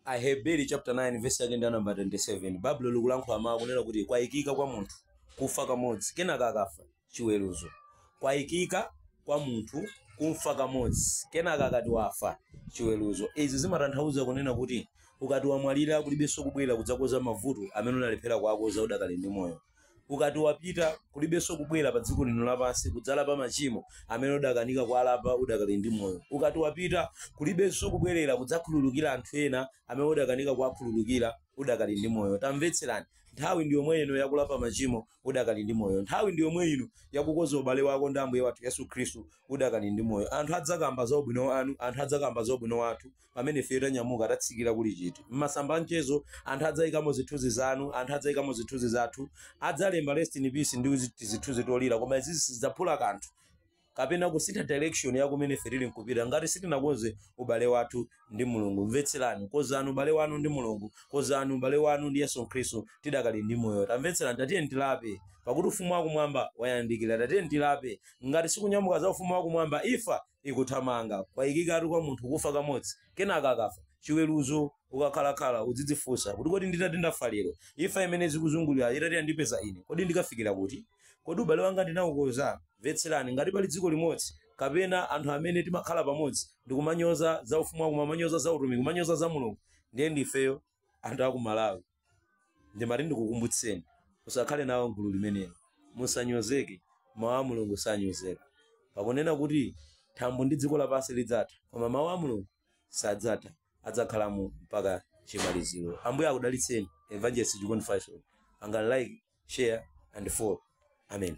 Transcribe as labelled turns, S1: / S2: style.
S1: aheberi chapter 9 verse yake ndi namba 27 baibulo likulankhula mawu kunena kuti kwayikika kwa munthu kufa kamodzi kenaka akafa chiweruzo kwayikika kwa munthu kufa kamodzi kenaka akati wafa chiweruzo izi zimatanthauza kunena kuti ukati wamwalira kulibenso kubwera kudzakoza mavuto amene unalephera kuwakoza udakali ndi moyo ukati wapita kulibenso kubwera pa dziko lino lapansi kudzalapa machimo amene udakanika kuwalapa udakali ndi moyo ukati wapita kulibenso kubwerera kudzakhululukira anthu ena amene udakanika kuwakhululukira udakali ndi moyo tamvetserani nthawi ndi yomwe ino yakulapa machimo udakali ndi moyo nthawi ndi yomwe ino yakukonza ubale wako ndi ambuye wathu yesu khristu udakali ndi moyo anthu adzakamba za ubwino wanu anthu adzakamba za ubwino wathu pamene ifeyo tanyamuka tatsikira kuli chiti m'masamba a mchezo anthu adzaikamo zithunzi zanu anthu adzaikamo zithunzi zathu adzalemba rest in peace ndi uzi- tizithunzi tolira koma izizi sizidzaphula kanthu kapena kusintha direction ya kumene ife tili kupita ngati sitinakonze ubale wathu ndi mulungu mvetserani kozani ubale wanu ndi mulungu kozani ubale wanu ndi yesu khristu tidakali ndi moyo tamvetserani tatiyeni tilape pakuti ufumu wakumwamba wayandikira tatiyeni tilape ngati sikunyamuka za ufumu wakumwamba ifa ikuthamanga kwayikikatu kwa munthu kufa kamodzi kenaka akafa chiweruzo ukakhalakhala udzidzifunsa kuti kodi nditati ndafa lero imfa imene zikuzungulira itati yandipeza ine kodi ndikafikira kuti kodi ubale wanga ndinaukoza mvetserani ngati pali dziko limodzi kapena anthu amene timakhala pamodzi ndikumanyoza za ufumu wakumwamba kumanyoza za utumiki kumanyoza za mulungu ndiye ndifeyo anthu aku malawi ndimati ndikukumbutseni musakhale nawo gulu limenelo musanyozeke mawu a mulungu sanyozeka pakunena kuti thambo ndi dziko lapansi lidzatha koma mawu a mulungu sadzatha adzakhalamo mpaka chimaliziro ambuye akudalitseni evangelist chikondi faisal pangani like share and follow amen